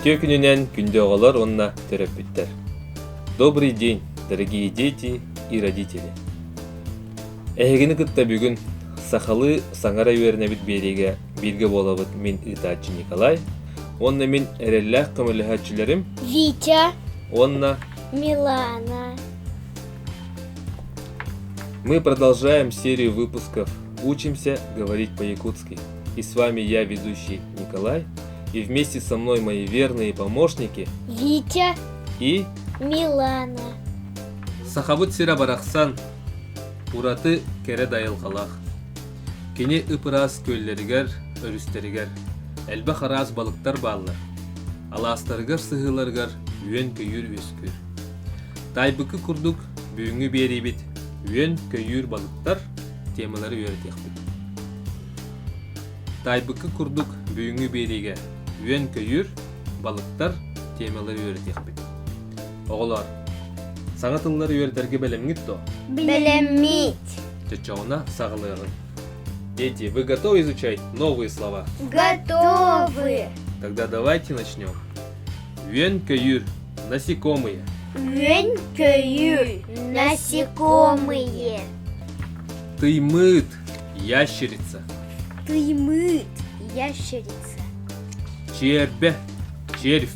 Үтүө күнүнэн күндү оҕолор уонна төрөппүттэр. Добрый день, дорогие дети и родители. Эһигини кытта бүгүн сахалыы саҥара үөрэнэбит биэриигэ Бииргэ буолабыт мин ыытааччы Николай, уонна мин эрэллээх көмөлөһөөччүлэрим Витя уонна Милана. Мы продолжаем серию выпусков «Учимся говорить по-якутски». И с вами я, ведущий Николай, и вместе со мной мои верные помощники Витя и Милана. Сахабыт сирэ барахсан, ураты кэрэ дайылгалаах. Кини ып-ыраас күөллэригэр, өрүстэригэр элбэх араас балыктар бааллар. Алаастарыгар сыһыыларыгар үөн-көйүүр үөскүүр. Таайбыкы курдук бүгүҥҥү биэриибит үөн-көйүүр балыктар темалары үөрэтиэхпит. Таайбыкы курдук бүгүҥҥү биэриигэ үөн-көйүүр, балыктар темалары үөрэтиэхпит. Оҕолоор, саҥа тыллар үөрдэргэ бэлэмҥит дуо? Бэлэммит. Чочоҕуна саҕалыаҕыҥ. Дети, вы готовы изучать новые слова? Готовы. Тогда давайте начнем. Үөн-көйүүр, насекомые. Үөн-көйүүр, насекомые. Тыймыыт, ящерица. Тыймыыт, ящерица. Чиэрбэ, червь.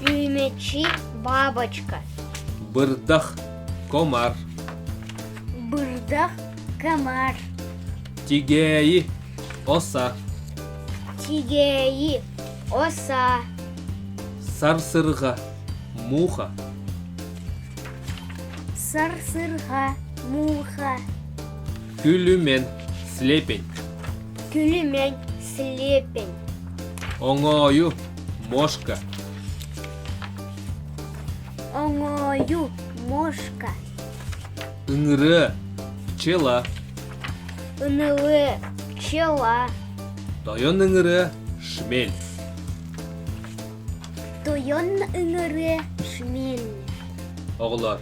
Үүмэчи бабочка. Бырдах комар. Бырдах комар. Тигээйи оса. Тигээйи оса. Сарсырга муха. Сарсырга муха. Күлүмэн слепень. Күлүмэн слепень. Оҥою мошка оҥою мошка ыҥыры пчела ынылы пчела тойон ыҥыры шмель тойон ыҥыры шмель оҕолор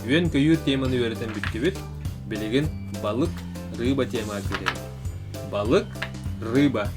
үөн-көйүүр теманы үөрэтэн бүттүбүт билигин балык рыба тема күүтэбит балык рыба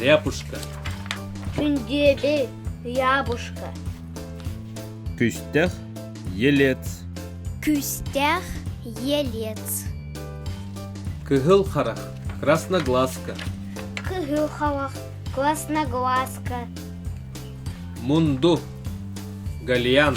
Ряпушка Күндүөбү, Рябушка Күстэх Елец Күстэх Елец Кыһыл харах Красноглазка Кыһыл халах Красноглазка Мунду Гальян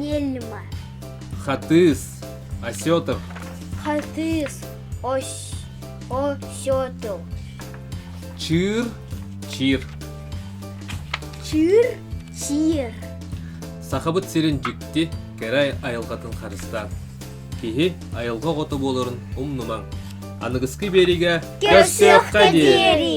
нельма хатыыс осетов хатыыс ось осетов чыыр чиир чыыр чиир сахабыт сирин дьикти кэрэ айылҕатын харыстаан киһи айылҕа оҕото буоларын умнумаҥ аныгыскы биэриигэ көрсүөххэ диэри